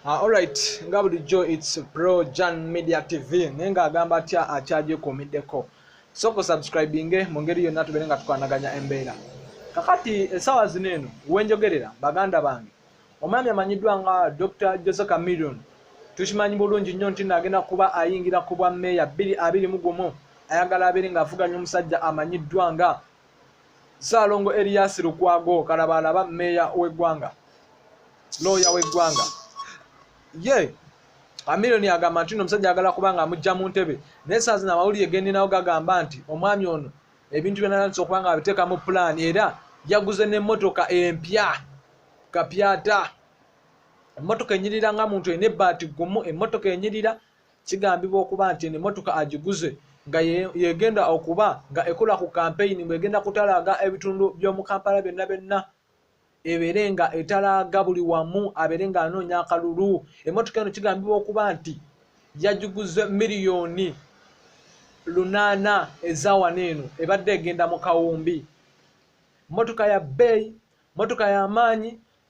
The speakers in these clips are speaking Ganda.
Ah, alright nga bulijjo its pro jan media tv naye nga agamba atya akyagyekuumiddeko so ku subscribinge mu ngeri yonna tubeere nga tukwanaganya embeera kakati esaawa zino eno wenjogerera baganda bange omwami amanyiddwa nga dr jose camilion tukimanyi bulungi nnyo nti naagenda kuba ayingira ku bwa meeya bbiri abiri mu gumu ayagala abeere ng'avuganya omusajja amanyiddwa nga Ssaalongo Erias Lukwago kalabaalaba mmeeya w'eggwanga looya w'eggwanga ye Amiliyoni agamba nti no omusajja agala kuba nga amujja mu ntebe naye saa zino amawulire gendinawo gagamba nti omwami ono ebintu byanatandisa okuba nga abiteeka mu pulaani era yaguze n'emmotoka empya kapyata emmotoka enyirira nga muntu ena ebbaati gumu emmotoka enyirira kigambibwa okuba nti eno emotoka agiguze nga yegenda okuba nga ekola ku kampeyini bwegenda kutalaaga ebitundu by'omu kampala byonna byonna ebeere nga etalaaga buli wamu abeere nga anoonya akalulu emotoka eno kigambibwa okuba nti yagiguze miliyoni lunaana ezawana eno ebadde egenda mu kawumbi motoka ya bbeeyi motoka y'amaanyi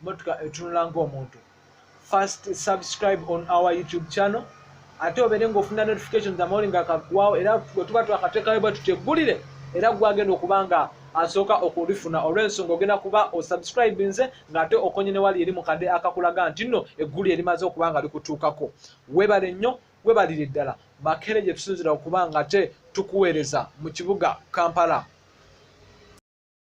motoka etunula ng'omuntu first subscribe on our youtube channel ate obeere ng'ofuna notifications amawuli nga kagwawo era gwe tuba twakateekayo bwe tuteggulire era gwagenda okuba nga asooka okulifuna olw'ensonga ogenda kuba osubscribinze ng'ate okonye ne wali eri mu kadde akakulaga nti nno eggulu erimaze okuba nga likutuukako webale nnyo webalire ddala makere gye tusinzira okuba nga te tukuweereza mu kibuga kampala